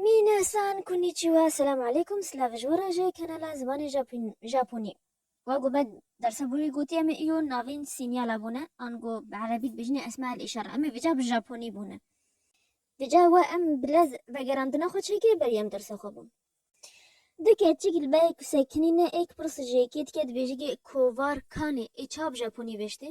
Minasan Konnichiwa, Selam Aleykum, Silav ji we re ji kanala Zimanê Japonî. Wek ku me dersa bû jî gotî em ê îro navên sînyala bûne an ku bi erebî dibêjinê esma el îşara em ê vêca bi japonî bûne. Vêca we em bi lez vegerandina xwe çêkirî berî em dersa xwe bûn. Du keçik li berê ku sekinî ne êk pirs ji êkê dike dibêje ke kovar kane ê ça bi japonî vêştê?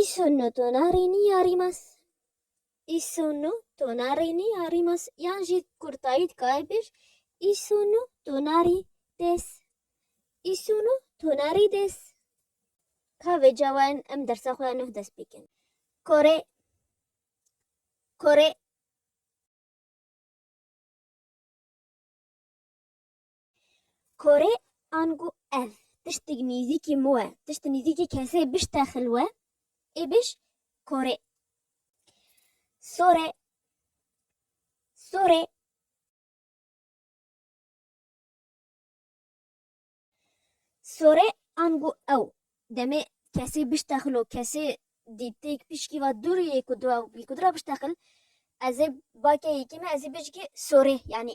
Îşo no to na rînî ya rîmas. Îşo no to na rînî ya rîmas yan jî kurtayî dikare bêj îşo no to na rî des. Îşo no to na rî des. Ka vê cawayan em dersa xwe ya nuh dest pê kirin. Kore Kore. Kore ango ev tiştik nîzîkî min we, tişt nîzîkî kesê bişte xilwe ê biş kore. Sore sore. Sore ango ew demê kesê bişte xilo kesê dî têk pişkî va dûrî yê ku dû ew bî kudira bişte xil ez ê bake yekî me ez ê bijikê sore yanî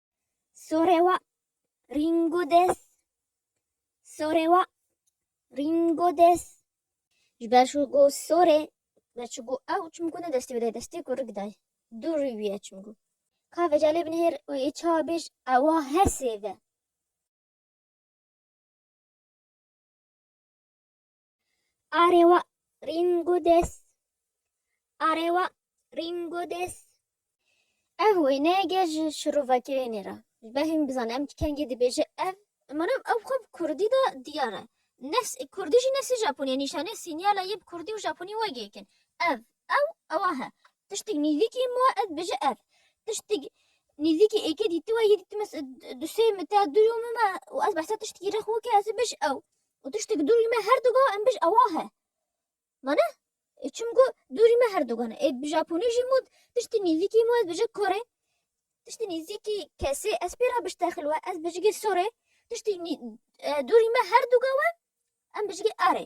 Sorewa Ringo des Sorewa Ringo des Ji ber şu go sore ve çi go ew çimku ne destê wê destê ku rik day. Du rî wî ye çimku. Ka vecalê binihêr û ê çawa bêj ewa her sê ve. Arewa Ringodes Arewa Ringodes Ev wêne ge ji şirovekirênê re. Ji ber hîn bizane em kengê dibêje ev Manem ew xwe bi kurdî de diyar e. Nefs kurdî jî nefsê japonî ye nîşanê sînyala yê bi kurdî û japonî wek yek in. Ev ew ewa he. Tiştîk nîzîkî min we ez dibêje ev. Tiştîk nîzîkî êkê dîtiwe yê dîtime du sê min te du yo min me û ez behsa tiştîkî re xwe ke ez dibêj ew. Û tiştek dûrî me her du ga em bij ewa he. Ma ne? Ê çim ku dûrî me her du gan e. Ê bi Japonî jî mûd tiştî nîzîkî mû ez bijik korê. Tiştî nîzîkî kesê ez pê re biştexil we ez bijikê sorê. Tiştî dûrî me her du ga we em bijikê arê.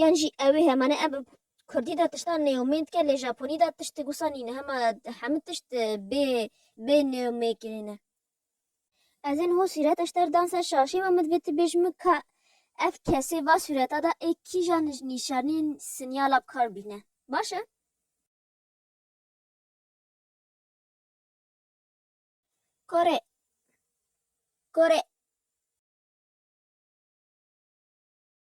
Yan jî ew ê hema ne em bi kurdî de tiştan nêumêd dike lê japonî de tişt wisa nîne hema hemû tişt bê bê nêumêkirî ne. Ez ên ho sûret eşter dan ser şaşê me min bi tu bêj min ka ev kesê va sûreta da ê kîja nîşanîn sinyala bi kar bîne. Baş e? Kore. Kore.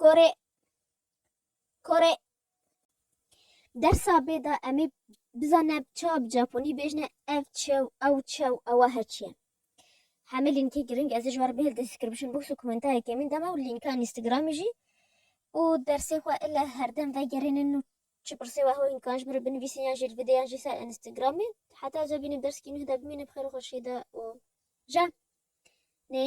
Kore Kore Dersa bêda emê bizane çawa bi Japonî bêjne ev çew ew çew ewa her çi ye. Hemê lînkê giring ez ê ji we re bihêl description box û komentarê kemîn de me û lînka Instagramê jî û dersê xwe ille herdem vegerênin û çi pirsê we hewin kan ji min re binivîsin yan jî li vê de yan jî ser Instagramê heta ca bînim dersîkî nûh de bimîne bi xêr û xweşî de û ja nê